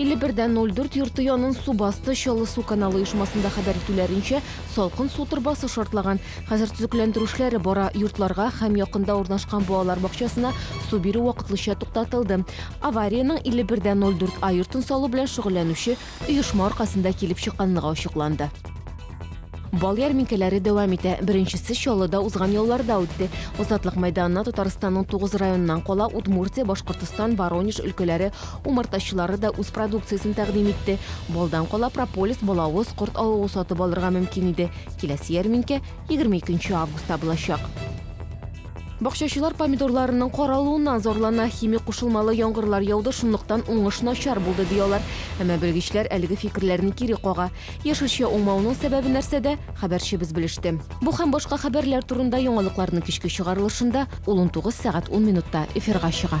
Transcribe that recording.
51.04 йорты янын су басты Чаллы су каналы оешмасында хәбәр итүләренчә, салкын су торбасы шартлаган. Хәзер төзекләндерү эшләре бара. Йортларга һәм якында урнашкан балалар бакчасына су бирү вакытлыча туктатылды. Авариянең 51.04 А йортын салу белән шөгыльләнүче оешма аркасында килеп чыкканлыгы ачыкланды. Бал ярминкәләре дәвам итә. Беренчесе Чаллыда узган ялларда үтте. Азатлык мәйданына Татарстанның тугыз районыннан кала Удмуртия, Башкортостан, Воронеж өлкәләре умартачылары да үз продукциясен тәкъдим итте. Балдан кала прополис, балавыз, корт авыгу сатып алырга мөмкин иде. Киләсе ярминкә 22 августта булачак. Бакчачылар помидорларының каралуыннан зарлана, химик кушылмалы яңгырлар яуды, шунлыктан уңыш начар булды, ди алар. Әмма белгечләр әлеге фикерләрне кире кага. Яшелчә уңмавының сәбәбе нәрсәдә, хәбәрчебез белеште. Бу һәм башка хәбәрләр турында яңалыкларның кичке чыгарылышында, ул унтугыз сәгать ун минутта эфирга чыга.